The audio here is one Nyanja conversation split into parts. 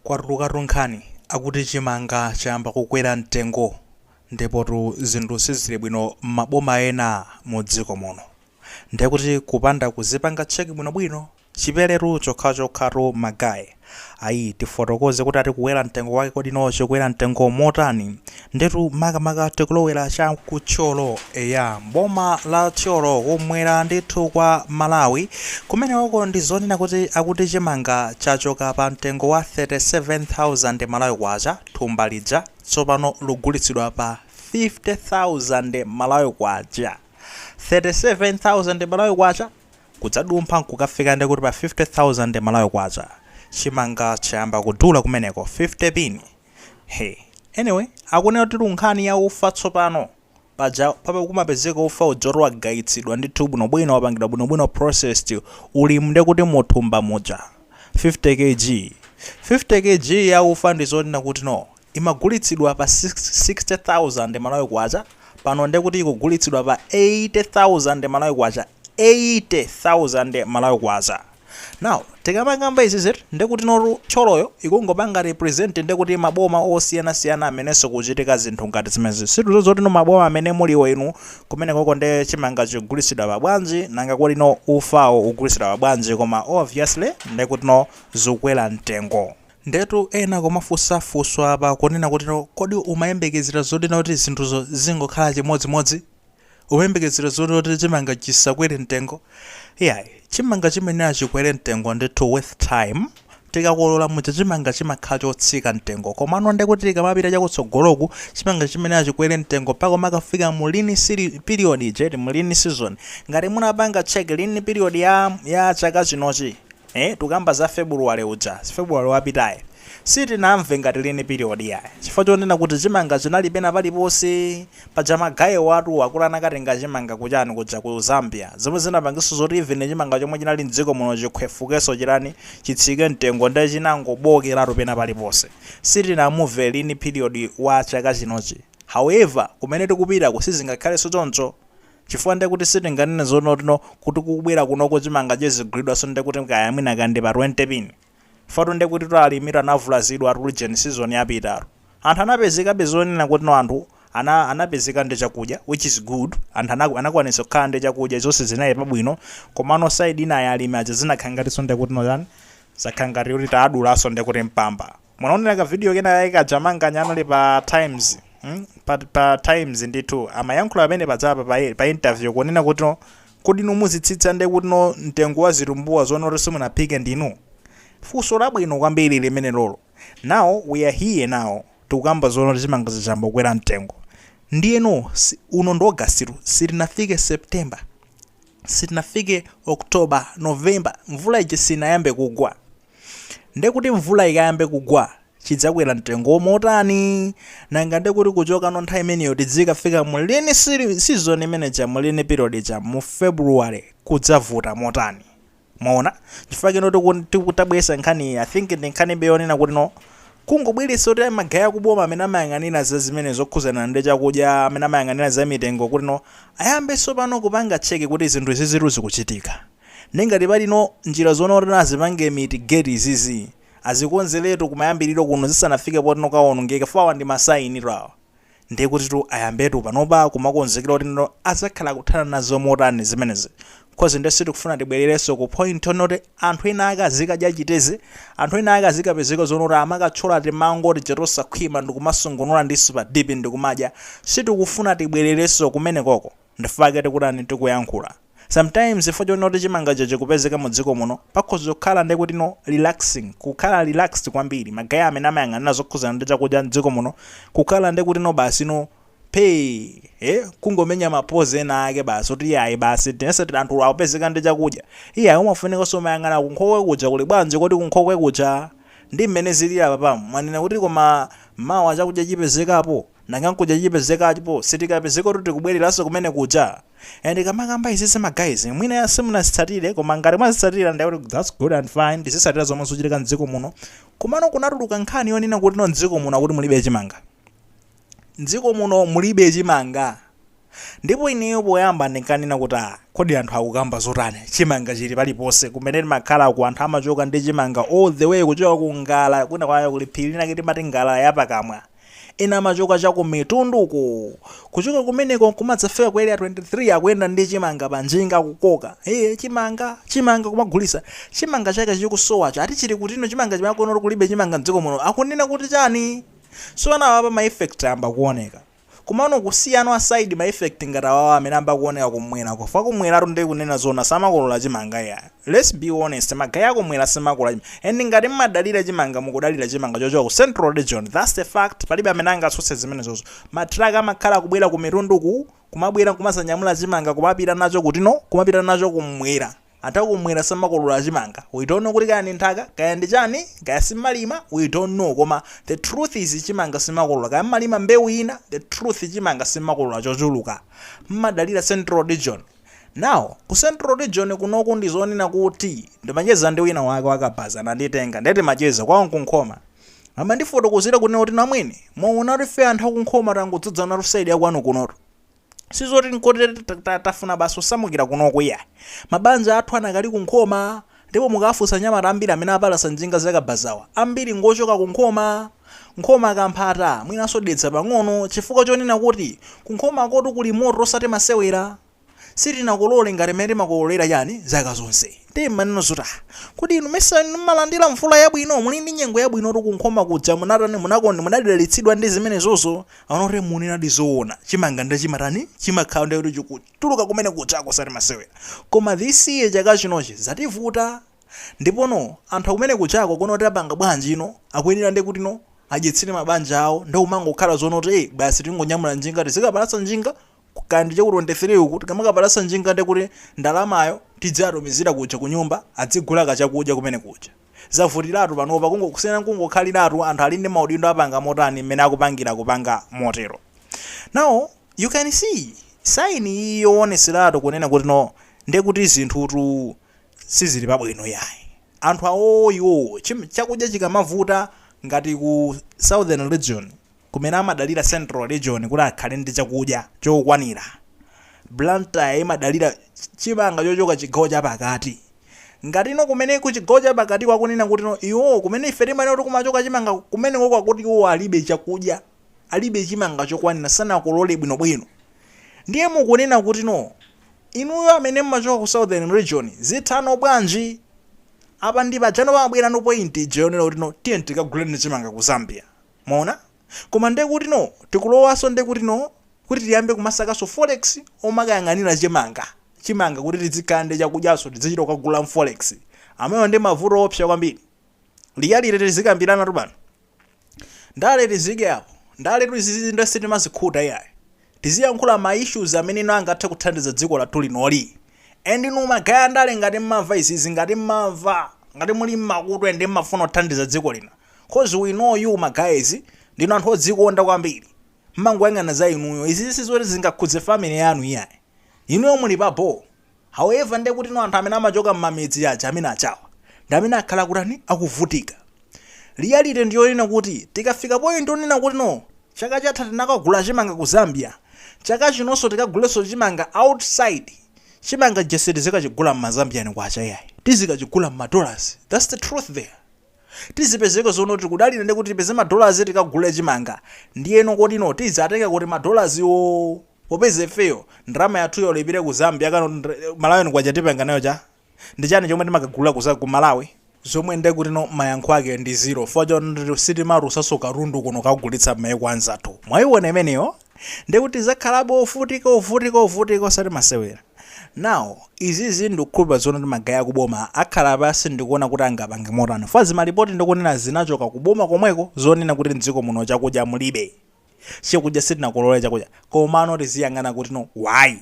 Kwatulukatu nkhani akuti chimanga chayamba kukwera mtengo ndipotu zinthu sizili bwino m'maboma ena mu dziko muno. Ndiye kuti kupanda kuzipanga check bwinobwino chiperetu chokhachokhatu ma guy. Ayi tifotokoze kuti ati kukwera mtengo wake kodi no chikwera mtengo motani Ndetu makamaka tikulowera cha ku Thyolo eya boma la Thyolo kumwera ndithu kwa Malawi kumenewoko ndi zonena kuti akuti chimanga chachoka pa mtengo wa 37,000 Malawi kwacha thumba lija tsopano lugulitsidwa pa 50,000 Malawi kwacha 37,000 Malawi kwacha kudzadumpha nkukafika ndekuti pa 50,000 Malawi kwacha chimanga chayamba kudula kumeneko 50 pin he anyway akunena kuti ku nkhani ya ufa tsopano paja papa kumapezeka ufa uja woti wagayitsidwa ndithu bwinobwino wapangidwa bwinobwino processed ulimu nde kuti muthumba muja 50 kg 50 kg ya ufa ndi zoti no imagulitsidwa pa 60000 malawi kwacha pano nde kuti ikugulitsidwa pa 80000 malawi kwacha 80000 malawi kwacha Now tikamakamba izizi ndekuti no tu Thyoloyo ikungopanga represent ndekuti maboma osiyana siyana amenenso kuchitika zinthu ngati zimenezi sitikudziwa zoti no maboma amene muliwo inu kumenekoko nde chimanga chikugulitsidwa pa bwanji nanga kodi no ufawo ukugulitsidwa pa bwanji koma obviously ndekuti no zikukwera mtengo. Ndetu ena kumafunsa funso apa kunena kuti no kodi umayembekezera zoti no kuti zinthuzo zingokhala chimodzi modzi? Umayembekezera zoti kuti chimanga chisakwere mtengo? Iyayi, chimanga chimayenera chikwere mtengo ndithu with time. Tikakolola muja chimanga chimakhala chotsika mtengo komano ndekuti tikamapita chakutsogoloku chimanga chimayenera chikwere mtengo mpaka umakafika mu lean peri- period ija eti mu lean season. Ngati munapanga check lean period ya, ya chaka chinochi eh, tukamba za February uja, February wapitayi sitinamve ngati lean period iyayi chifukwa chonena kuti chimanga chinali pena paliponse Paja ma guy awatu akuti anakatenga chimanga kuchani kuja ku Zambia zomwe zinapangitsa zoti even chimanga chomwe chinali mdziko muno chikhwefukeso chitani chitsike mtengo nde chinangobookeratu pena paliponse sitinamuve lean period wa chaka chinochi however kumene tikupitaku sizingakhaleso choncho chifukwa ndekuti sitinganene zoti no kuti kukubwera kunoko chimanga chizigulidwaso ndekuti kaya mwina kaya ndi pa 20 pin Ifetu nde kutitu alimitu anavulazidwatu ujeni season yapitatu anthu anapezekabe zonena kuti no anthu ana anapezeka ndi chakudya which is good anthu ana anakwanitsa kukhala ndi chakudya zonse zinayenda bwino komano side inayi ya alimi aja zinakhala ngatinso nde kuti no chani zakhala ngati kuti tawadulanso nde kuti mpamba munaonera ka video kena kake kaja Manganya anali pa Times mm pa pa Times ndithu amayankhula pamene pajapa pa pa interview kunena kuti no Kodi inu muzitsitsa ndiye kuti no mtengo wa zitumbuwa zonoti simunaphike ndinu? Funso labwino kwambiri limenelolo. Now we are here now tikukamba zonoti chimanga chija chayamba kukwera mtengo. Ndiyeno si uno ndi August tu sitinafike September, sitinafike October, November mvula ija sinayambe kugwa. Nde kuti mvula ikayambe kugwa, chidzakwera mtengo motani? Nanga nde kuti kuchokano nthawi imeneyo tidzikafika mu lean season imene ija, mu lean period ija, mu February, kudzavuta motani? Mwaona? Chifukwa chino tiku, tiku tabweresa nkhani iyi, I think ndi nkhanibe yonena kuti no, kungobweresa oti magaye aku boma amene amayang'anira zazimene zokhuzana ndi chakudya, amene amayang'anira za mitengo kuti no, ayambe sopano kupanga check kuti zinthu izizitu zikuchitika. Nde ngati pali no njira zonoti no azipange mitigate izizi azikonzeletu kumayambiliro kuno zisanafike poti no kawonongeke chifukwa awa ndi ma sign tu awa nde kuti tu ayambetu panopa kumakonzekera kuti no azakhala akuthana nazo motani zimenezi coz nde sitikufuna tibwelereso ku point yonoti anthu ena ake azikadya chiteze anthu ena ake azikapezeka zonoti amakathyola timango tija tosakhwima ndikumasungunula ndi super dip ndikumadya sitikufuna tibwelereso kumenekoko. ndifake tikutani tikuyankhula sometimes chifukwa chonoti chimangacho chikupezeka mu dziko muno pakhoza kukhala ndekuti no relaxing kukhala relaxed kwambiri ma guy amene amayang'anira zokhuzana ndi chakudya mdziko muno kukhala ndekuti no basi no pay eh kungomenya ma pose ena ake basi kuti iyayi basi tonse tili anthu akupezeka ndi chakudya iyayi umafunikanso umayang'ana kunkhokwe kuja kuli bwanji kodi kunkhokwe kuja ndi mmene zilili apa pam mwanena kuti koma mawa chakudya chipezekapo Nanga nkudya chipezekapo sitikapezekotu tikubwereranso kumene kuja and kamakamba izizi ma guys mwina simunazitsatire koma ngati mwazitsatira ndiye kuti that's good and fine tizitsatira zomwe zikuchitika mdziko muno komano kunatuluka nkhani yonena kutino mdziko muno akuti mulibe chimanga mdziko muno mulibe chimanga Ndipo ineyo poyamba ndinkanena kuti ah kodi anthu akukamba zotani chimanga chili paliponse, kumene timakhalaku anthu amachoka ndi chimanga all the way kuchoka ku Ngala kwina kwake kuli phiri linake timati Ngala ya pakamwa, ena amachoka cha ku Mitundu uko, kuchoka kumeneko nkumadzafika ku Area 23 akuyenda ndi chimanga pa njinga akukoka, eeh chimanga, chimanga kumagulitsa, chimanga chake chikusowacho ati chili kutino chimanga chimene akunena kuti kulibe chimanga m'dziko muno akunena kuti chani? Tsopano apapa ma effect ayamba kuoneka. Komano kusiyana aside ma effect ngati awawa amene amba kuoneka kumwelako fwa kumwelatu nde kunena zoona samakolola chimanga iyayi let's be honest ma guy akumwela samakolola chimanga and ngati mmadalira chimanga mukudalila chimanga chochoka ku central region that's the fact palibe amene angatsutse zimenezozo ma truck amakhala akubwela ku Mitunduku kumabwela nkumazanyamula chimanga kumapita nacho kutino kumapita nacho kumwela Anthu akumwera samakolora chimanga, we don't know kuti kaya ndi nthaka, kaya ndi chani, kaya simalima, we don't know koma the truth is chimanga simakolora kaya mmalima mbewu ina, the truth chimanga simakolora chochuluka. Mmadalira central region. Now ku central region kunoku ndi zonena kuti ndimacheza ndi wina wake wa Kabaza ananditenga ndiye timacheza kwawo nku Nkhoma. Amandifotokozera kunena kuti Namwene, mwaona kuti ife anthu aku Nkhoma tangodzadzanatu side ya kwanu kunotu. sizoti nkoti tafuna basi kusamukira kunoko iya mabanja athu anakali ku nkhoma ndipo mukafunsa nyamata ambiri amene apalasa njinga zakabazawa ambiri ngochoka ku nkhoma nkhoma kamphata mwinanso dedza pang'ono chifukwa chonena kuti ku nkhomakotu kuli moto osati masewera sitinakolole ngati mmene timakololera chani zaka zonse ndiye mmanena zoti kuti inu mesa mmalandira mvula yabwino muli ndi nyengo yabwinotu ku nkhoma kuja munatani munakonde munadalitsidwa ndi zimenezozo Anoti munenadi zoona chimanga nde chimatani chimakhala nde kuti chikutuluka kumene kujako osati masewera koma this year chaka chinochi zativuta ndipono anthu akumene kujako kunoti apanga bwanjino akuyenera nde kutino adyetsere mabanja awo nde kumangokhala zoona kuti basi tingonyamula njinga tizikapalasa njinga kaya ndi chaku 23 uku tikamakapalasa njinga nde kuti ndalamayo tidziatumizira kuja kunyumba adzigula kachakudya kumene kuja. zavutilatu panopa kusiyana kungokhaliratu anthu ali ndi maudindo apanga motani mmene akupangira kupanga motero now you can see sign iyi yowoneseratu kunena kuti no nde kuti zinthutu sizili pabwino yayi anthu awowo iwowo chakudya chikamavuta ngati ku southern region kumene amadalira Central Region kuti akhale ndi chakudya chokwanira. Blantyre imadalira chimanga chochoka chigawo chapakati. Ngatino kumene kuchigawo chapakatiko akunena kutino iwowo kumene ife timanena kuti kumachoka chimanga kumenekoko akuti iwowo alibe chakudya, alibe chimanga chokwanira, sanakolole bwinobwino. Ndiye mukunena kutino inuyo amene mumachoka ku Southern Region zithano bwanji? Apa ndipajano pamabwerano point ija yonena kutino tiyeni tikaguleni chimanga ku Zambia. Mwaona? Koma nde kutino tikulowaso nde kutino kuti tiyambe kumasakaso forex omakayang'anila chimanga chimanga kuti tidzikhala nde chakudyaso tidzichita kukagula mforex amenewo nde mavuto oopsa kwambiri reality tizikambilanatu pano ndale tiziike apo ndaletu izizi nde sitimazikhuta iyayi Tiziyankhula ma issues amene ino angathe kuthandiza dziko lathu linoli. And inu ma guy andale ngati mmamva izizi ngati mmamva, ngati muli nmakutu and mmafuna kuthandiza dziko lino coz we know you ma guys ndinu anthu odzikonda kwambiri mmangoyang'ana za inuyo izizi sizoti zingakhudze family yanu iyayi. Inuyo muli pa boo. However nde kutino anthu amene amachoka mmamidzi aja amene achawa ndi amene akhala kutani akuvutika. Reality ndi yonena kuti tikafika point yonena kuti no chaka chatha tinakagula chimanga ku Zambia chaka chinonso tikagulenso chimanga outside chimanga chija sitizikachigula mma Zambian kwacha iyayi tizikachigula mma dollars that's the truth there. Tizipezeka zono tikudalira nde kuti tipeze ma dollars tikagule chimanga ndiyeno kuti no tizatenga kuti ma dollars wo? popeza ifeyo ndalama yathuyo olo ipite ku zambia kano ndi malawian kwacha tipanga nayo cha? ndichani chomwe timakagula ku za ku malawi? zomwe nde kutino mayankho ake ndi zero chifukwa choti sitimatulusaso katundu kuno kukagulitsa mmaiko anzathu mwaiona imeneyo nde kuti tizakhalabe ovutika ovutika ovutika osati masewera now izizi ndikukhulupila zonoti magaye akuboma akhala pasi ndikuona kuti angapange motani chifukwa zimalipoti ndikunena zinachoka kuboma komweko zonena kuti mdziko muno chakudya mulibe chakudya sitinakolole chakudya komano tiziyang'ana kuti no why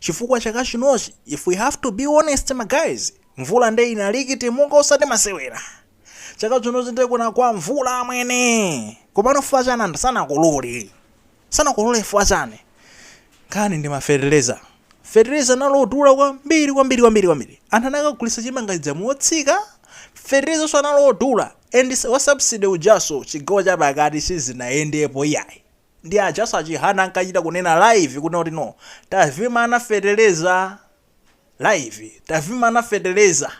chifukwa chaka chinochi if we have to be honest ma guys mvula nde inalikita munga osati masewera chaka chinochi nde kunagwa mvula amwene komano fuwa chani anthu sanakolole sanakolole fuwa chani Nkhani ndi ma feteleza. Feteleza anali odula kwambiri kwambiri kwambiri kwambiri. Anthu anakagulisa chimanga chija motsika. Fetelezanso anali odula and wa subsidy ujanso chigawo cha pakati sizinayendepo iyayi. Ndi ajanso a Chihana ankachita kunena live kunena kuti no tavimana feteleza. live tavimana feteleza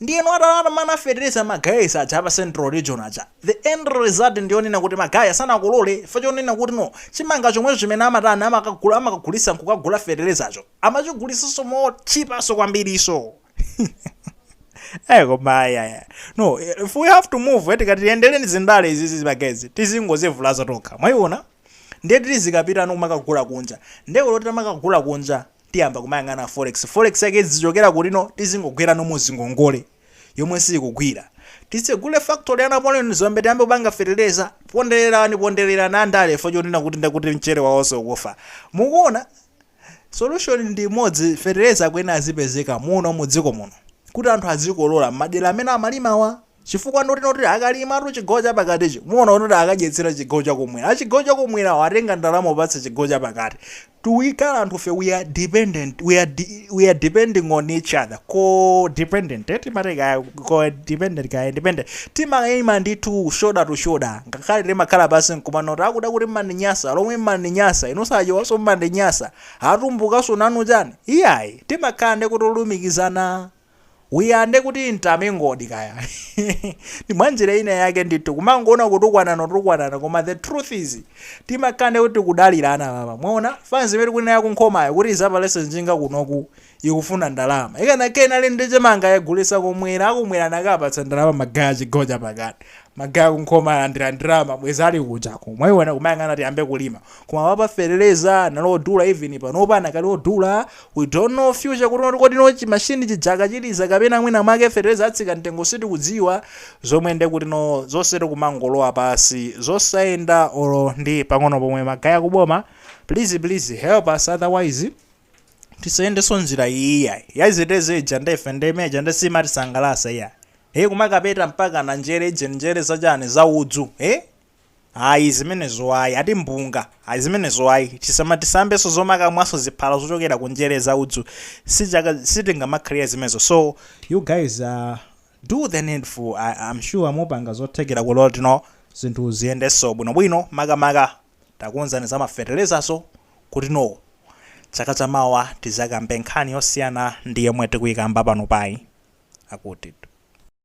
ndiyeno atawamana feteleza ma guys aja apa central region aja the end result ndiyonena kuti magaye sanakolole chifukwa chonena kuti no chimanga chomwecho chimene amatani amakagula amakagulisa nkukagula fetelezacho amachigulisanso motchipanso kwambiriso Eh koma ayaya. No, if we have to move tikati tiendeleni zindale izizi ma guys. Tizingozivulaza tokha. Mwayiona? Ndiye tizikapita kumakagula kunja. Ndiye kuti tamakagula kunja. tiyamba kumayang'ana forex forex yake idzichokera kuti no tizingogwerano muzingongole yomwe siikugwira titsegule factory ya Napoleon Dzombe tiyambe kupanga feteleza pondererana pondererana andale fo chonena kuti ndakuti mchere wawonse ukufa mukuona solution ndi imodzi feteleza akuyenera azipezeka muno mu dziko muno kuti anthu azikolola mmadera amene amalimawa Chifukwa noti noti akalimatu chigawo chapakatichi muona kuti akadyetsera chigawo chakumwera. A chigawo chakumwerawo atenga ndalama kupatsa chigawo chapakati. Tikukhala anthufe we are dependent we are we are depending on each other co dependent eh, timati kaya co dependent kaya independent timaima ndithu shoulder to shoulder ngakhale timakhala pansi nkumanena kuti akuda kuti mmandinyasa alomwe mmandinyasa inuso achewaso mmandinyasa atumbukaso nanu chani iyayi timakhala ndi kuti olumikizana iya nde kuti timangoti kaya ndimwanjira ina yake ndithu kumangoona kutukwanana kutukwanana koma the truth is timakhala nde kuti tikudalirana apa mwaona fans imene tikunena yakunkhomayo kuti izapalese njinga kunoku ikufuna ndalama ikanakhala inali ndi chimanga yagulisa kumwera akumwera nakapatsa ndalama magaye achigawo cha pakati magaye aku Nkhoma alandira ndalama bwezi ali kujako mwaiona kumayang'ana tiyambe kulima koma apa fertilizer anali odula even panopa anakali odula we don't know future kuti kodi no chi machine chija akachimaliza kapena mwina mwake fertilizer atsika mtengo sitikudziwa zomwe nde kuti no zonse tikumangolowa pasi zosayenda olo ndi pang'ono pomwe magaye akuboma please please help us otherwise tisayendenso njira ija ya zitedze ija ndife nde mmene ija nde simatisangalasa iya e kumakapeta mpaka na njere zija njere zachani za udzu e Ayi zimenezo ayi, ati mpunga, ayi zimenezo ayi, tisamatisambenso zomakamwanso ziphala zochokera ku njere za udzu, si, sitingamakhalire zimenezo, so you guys do the needful, am sure mupanga zothekera kuti tino zinthu ziyendenso bwinobwino, makamaka takonzani za ma fetelezaso kuti no chaka cha mawa tizakambe nkhani yosiyana ndi yomwe tikuyikamba panopayi. Akuti.